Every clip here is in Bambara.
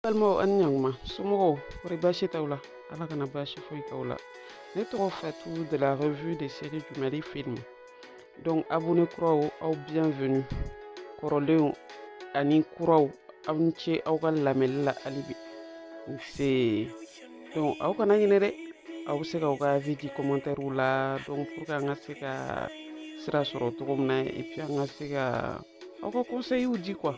balimaw ani ɲankuma somɔgɔw kɔri baasi t'aw la ala kana baasi foyi k'aw la ne tɔgɔ fatu de la revue des séries du mali film donc abonné kuraw aw bienvenue kɔrɔlenw ani kuraw aw ni ce aw ka lamɛnni la halibi se donc aw kana ɲinɛ dɛ aw bɛ se ka aw ka avis di commentaire la donc pour que an ka se ka sira sɔrɔ cogo min na et puis an ka se ka aw ka conseil di quoi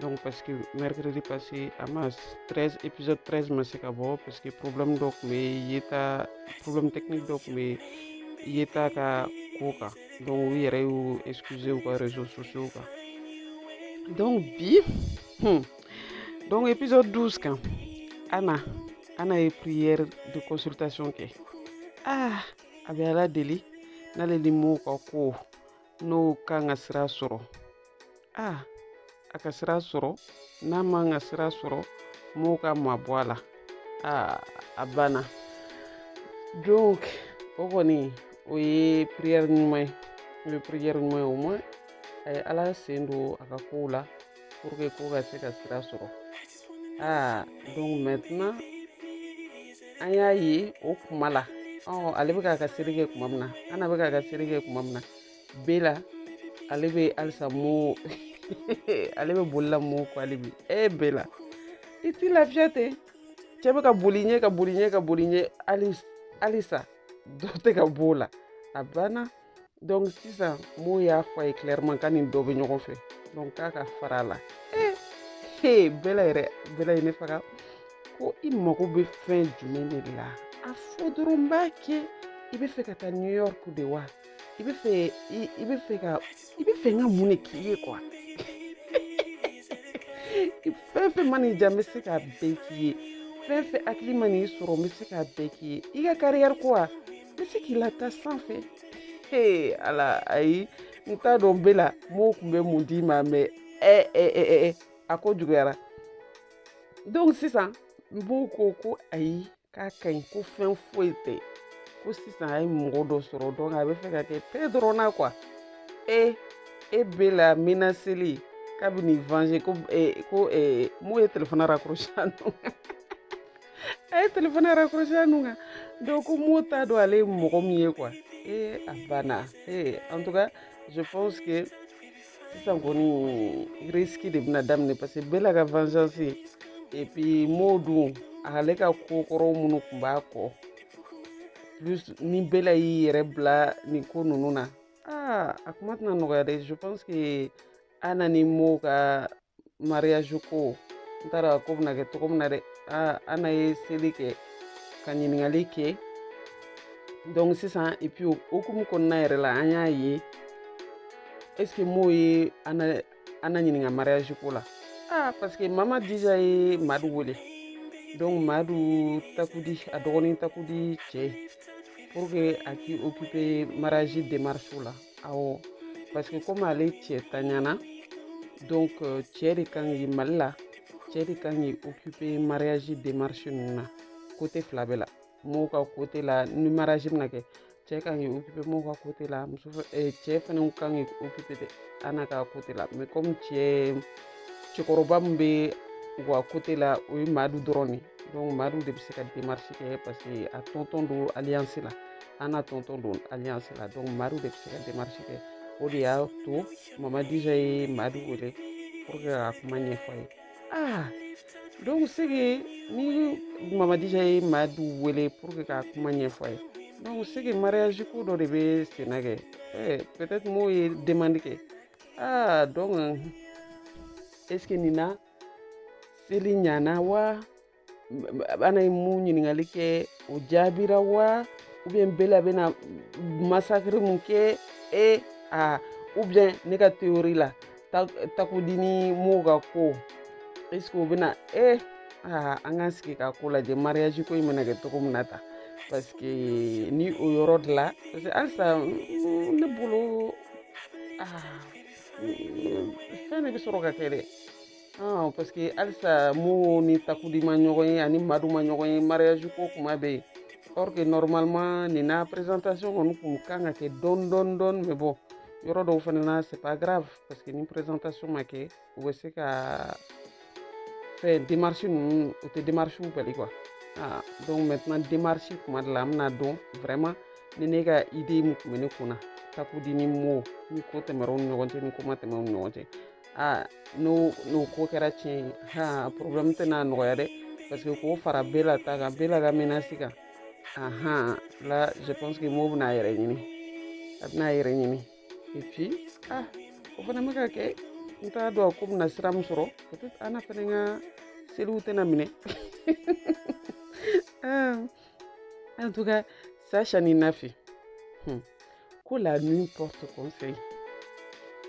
donc parce que mercredi passé ama 13 épisode 13 ma se ka bɔ parce que problème dɔ tun bɛ yeta problème technique dɔ tun bɛ yeta ka ko kan donc u yɛrɛ y'u excuser u ka réseaux sociaux kan donc bi hmm, donc épisode 12 kan ana ana ye prière de consultation kɛ ah a bɛ ala deli n'ale ni mo ka ko n'o kan ka sira sɔrɔ a a ka sira sɔrɔ n'a man kan ka sira sɔrɔ mo ka mabɔ a la a a banna donc o kɔni o ye prière ɲuman ye o ye prière ɲuman ye au moins a ye ala sen don a ka kow la pour que ko ka se ka sira sɔrɔ aa donc maintenant an y'a ye o kuma la ɔ ale bɛ k'a ka seri kɛ kuma min na ana bɛ k'a ka seri kɛ kuma min na bɛla ale bɛ halisa mo ale bɛ bolila mo kɔ ale bi e bɛla i t'i lafiya ten cɛ bɛ ka boli i ɲɛ ka boli i ɲɛ ka boli i ɲɛ halisa dɔ tɛ ka b'o la a banna donc sisan mo y'a fɔ a ye clairement k'a ni dɔ bɛ ɲɔgɔn fɛ donc k'a ka fara a la ee bɛla yɛrɛ bɛla ye ne faga ko i mago bɛ fɛn jumɛn de la a fɔ dɔrɔn n b'a kɛ i bɛ fɛ ka taa new york de wa i bɛ fɛ i bɛ fɛ ka i bɛ fɛ n ka mun de k'i ye quoi fɛn fɛn mana i diya n bɛ se k'a bɛɛ k'i ye fɛn fɛn hakili mana i sɔrɔ n bɛ se k'a bɛɛ k'i ye i ka carrière ko wa bɛ se k'i lataa sanfɛ ee ala ayi n t'a dɔn bɛla mo tun bɛ mun d'i ma mɛ ɛ ɛ ɛ ɛ a ko juguyara donc sisan mo ko ko ayi k'a ka ɲi ko fɛn foyi tɛ ko sisan a ye mɔgɔ dɔ sɔrɔ donc a bɛ fɛ ka kɛ paix dɔrɔn na quoi e e bɛla menaceli k'a bɛn'i venger ko ko mo ye telefɔni raccrocher a nɔ a ye telefɔni raccrocher a nun kan donc ko mo t'a dɔn ale ye mɔgɔ min ye quoi ee a banna ee en tout cas je pense que sisan kɔni risque de bɛna daminɛ parce que bɛla ka vengeance et puis mo dun ale ka ko kɔrɔw minnu tun b'a kɔ plus ni bɛla y'i yɛrɛ bila nin ko ninnu na aa a kuma tɛna nɔgɔya dɛ je pense que ana ni mo ka mariage ko n t'a dɔn a ko bɛna kɛ cogo min na dɛ ana ye seli kɛ ka ɲininkali kɛ donc sisan et puis o hukumu kɔnɔna yɛrɛ la an y'a ye est ce que mo ye ana ɲininka mariage ko la ah parce que mama dija ye madu wele donc madu takudi a dɔgɔnin takudi cɛ pour que a k'i occuper mariage démarche la awɔ parce que comme ale cɛ t'a ɲɛ na donc euh, cɛ de kan k'i mali la cɛ de kan k'i occuper mariage démarche ninnu na côté fila bɛɛ la mo ka côté la ni mariage bɛna kɛ cɛ kan k'i occuper mo ka côté la muso eh, cɛ fana kan k'i occuper de ana ka côté la mais comme cɛ cɛkɔrɔba min bɛ u ka côté la o ye madu dɔrɔn de ye donc madu de bɛ se ka démarche kɛ parce que a tɔntɔn don alliance la ana tɔntɔn don alliance la donc madu de bɛ se ka démarche kɛ o de y'a to mama dija ye madu wele pour que ka kuma ɲɛfɔ ye ah donc c'est que ni mama dija ye madu wele pour que ka kuma ɲɛfɔ ye donc c'est que mariage ko dɔ de bɛ senna kɛ eh, peut-être mo ye demande kɛ ah donc est ce que nin na seli ɲana wa ana ye min ɲininkali kɛ o jaabira wa ou bien bela bɛna massacre mun kɛ e a ou bien ne ka théorie la takudi ni mo ka ko est ce que o bɛna e aa an k'an sigi ka ko lajɛ mariage ko in bɛna kɛ cogo min na ta parce que ni o yɔrɔ de la parce que halisa ne bolo aa fɛn de bɛ sɔrɔ ka kɛ dɛ parce que halisa mo ni takudi ma ɲɔgɔn ye ani madu ma ɲɔgɔn ye mariage ko kuma bɛ yen or que normalement nin na présentation kɔni kun kan ka kɛ dɔɔni dɔɔni dɔɔni mais bon yɔrɔ dɔw fana na c'est pas grave parce que ni présentation ma kɛ u bɛ se ka fɛn démarche ninnu o tɛ démarche bali quoi ah donc maintenant démarche kuma de la an bɛna dɔn vraiment ni ne ka idée min tun bɛ ne kun na takudi ni mo ni ko tɛmɛra u ni ɲɔgɔn cɛ ni ko ma tɛmɛ u ni ɲɔgɔn cɛ ah n'o n'o ko kɛra tiɲɛ ye ha problème tɛna nɔgɔya dɛ parce que k'o fara bela ta kan bela ka menace kan ahan la je pense que mo bɛna a yɛrɛ ɲini a bɛna a yɛrɛ ɲini et puis ah o fana bɛ ka kɛ n t'a dɔn ko bɛna sira min sɔrɔ peut-être ana fana ka seliw tɛna minɛ en tout cas Sacha ni Nafi hmm. ko la nuit porte conseil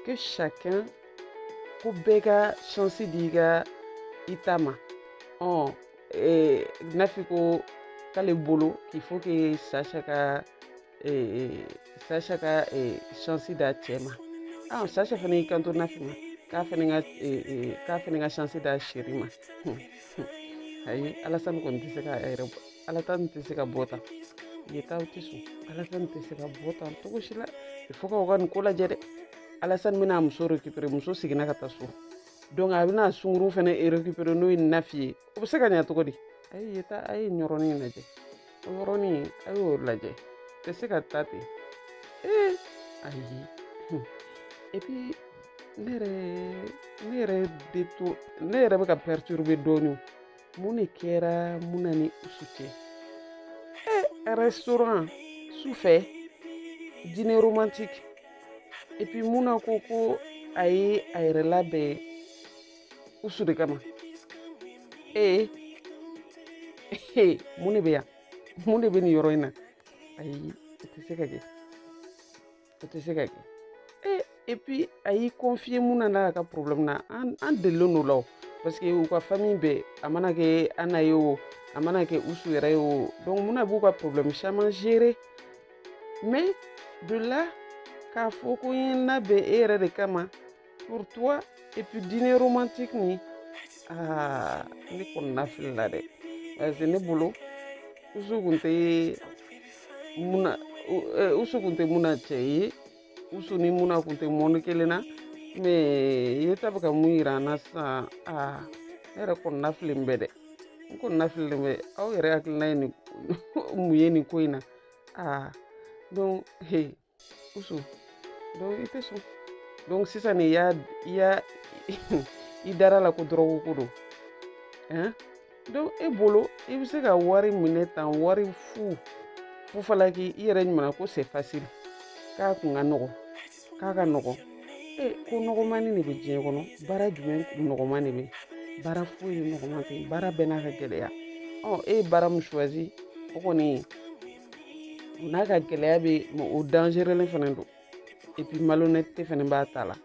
que chacun ko bɛɛ ka chance di i ka i ta ma ɔ Nafi ko k'ale bolo il faut que Sacha ka sasha ka chance d'a cɛ ma ah, sasha fana y'i kanto nafi ma k'a fana ka k'a fana ka chance d'a chérie ma ayi alasani kɔni tɛ se ka yɛrɛ bɔ alasani tɛ se ka bɔ tan yetaw tɛ sɔn alasani tɛ se ka bɔ tan cogo si la il faut u ka nin ko lajɛ dɛ alasani bɛna muso récupérer muso seginna ka taa so donc a bɛna sungurun fana récupérer n'o ye nafi ye o bɛ se ka ɲɛ cogo di a ye taa a ye yɔrɔnin lajɛ o yɔrɔnin a y'o lajɛ tɛ se ka taa ten ee ayi et puis ne yɛrɛ ne yɛrɛ bɛ to ne yɛrɛ bɛ ka perturber dɔɔnin mun de kɛra muna ni usu cɛ ee restaurant su fɛ dîner romantique et puis muna ko ko a ye a yɛrɛ labɛn usu de kama ee ee mun de bɛ yan mun de bɛ nin yɔrɔ in na ayi o tɛ se ka kɛ o tɛ se ka kɛ ee et puis a y'i confier muna n'a ka problème na an an delilen don la o parce que u ka famille bɛɛ a mana kɛ ana ye o a mana kɛ usu yɛrɛ ye o donc muna b'u ka problème caman gérer mais de là k'a fɔ ko n ye n labɛn e yɛrɛ de kama pour toi et puis dîner romantique ni ah ne kɔnɔnafilila dɛ parce que ne bolo usu kun tɛ muna usu kun tɛ muna cɛ ye usu ni muna kun tɛ monde kelen na mais yeta bɛ ka mun yira an na sisan aa ne yɛrɛ kɔnɔnafililen bɛ dɛ n kɔnɔnafililen bɛ aw yɛrɛ hakilina ye nin mun ye nin ko in na aa donc he usu donc i tɛ sɔn donc sisan ne y'a i y'a i dara a la ko dɔrɔgu ko don hein donc e bolo i bɛ se ka wari minɛ tan wari fu fufalaki i yɛrɛ ɲuman ko c'est facile k'a kun ka nɔgɔn k'a ka nɔgɔn e ko nɔgɔmani de bɛ diɲɛ kɔnɔ baara jumɛn nɔgɔman de bɛ baara foyi nɔgɔman tɛ baara bɛɛ n'a ka gɛlɛya ɔ e ye baara min choisi o kɔni o n'a ka gɛlɛya bɛ mais o dangerelen fana don et puis malhonnêteté fana b'a ta la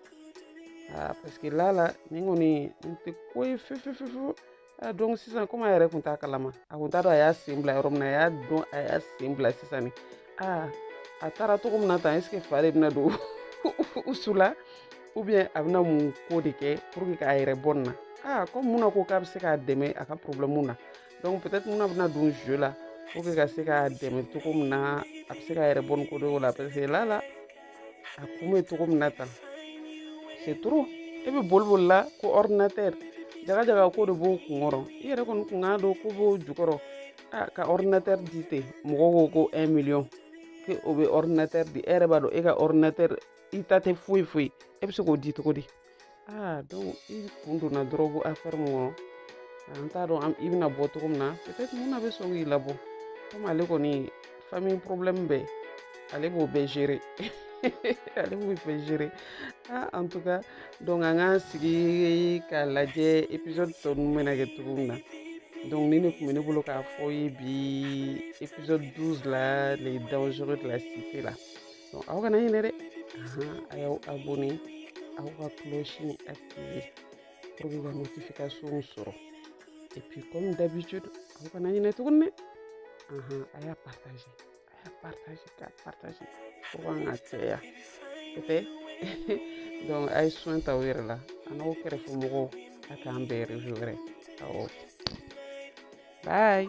aa parce que la la nin kɔni n tɛ ko ye fefefefo aa donc sisan comme a yɛrɛ kun t'a kalama a kun t'a dɔn a y'a sen bila yɔrɔ min na a y'a dɔn a y'a sen bila sisan ni aa a taara cogo min na tan est ce que fa de bɛna don usu la ou bien a bɛna mun ko de kɛ pour que k'a yɛrɛ bɔ nin na aa comme muna ko k'a bɛ se k'a dɛmɛ a ka problème na donc peut-être muna bɛna don jeu la pour que ka se k'a dɛmɛ cogo min na a bɛ se k'a yɛrɛ bɔ nin kojugu la parce que lala a kun bɛ cogo min na tan c'est trop e bɛ boli boli la ko ordinateur jaga jaga ko de b'o kun kɔrɔ i yɛrɛ kɔni kan k'a dɔn ko b'o jukɔrɔ a ka ordinateur di ten mɔgɔw ko ko un million ke o bɛ ordinateur di e yɛrɛ b'a dɔn e ka ordinateur i ta tɛ foyi foyi e bɛ se k'o di cogo di aa donc i kun donna dɔrɔgu afɛri min kɔnɔ an t'a dɔn i bɛna bɔ cogo min na peut-être muna bɛ sɔn k'i labɔ komi ale kɔni famille problème bɛɛ ale b'o bɛɛ gérer ale b'o bɛɛ gérer ah en tout cas donc an k'an sigi k'a lajɛ épisode tɔ ninnu bɛna kɛ cogo min na donc nin de tun bɛ ne bolo k'a f'aw ye bi épisode 12 la les dangereux de la cité la aw kana ɲinɛ dɛ a y'aw abonné aw ka cloche nin activé pour que ka notification sɔrɔ et puis comme d'habitude aw kana ɲinɛ tuguni dɛ a y'a partagé a y'a partagé k'a partagé pour qu'an ka caya o tɛ donc a ye soin t'aw yɛrɛ la an'aw kɛrɛfɛ mɔgɔw a k'an bɛn réseau wɛrɛ awɔ bye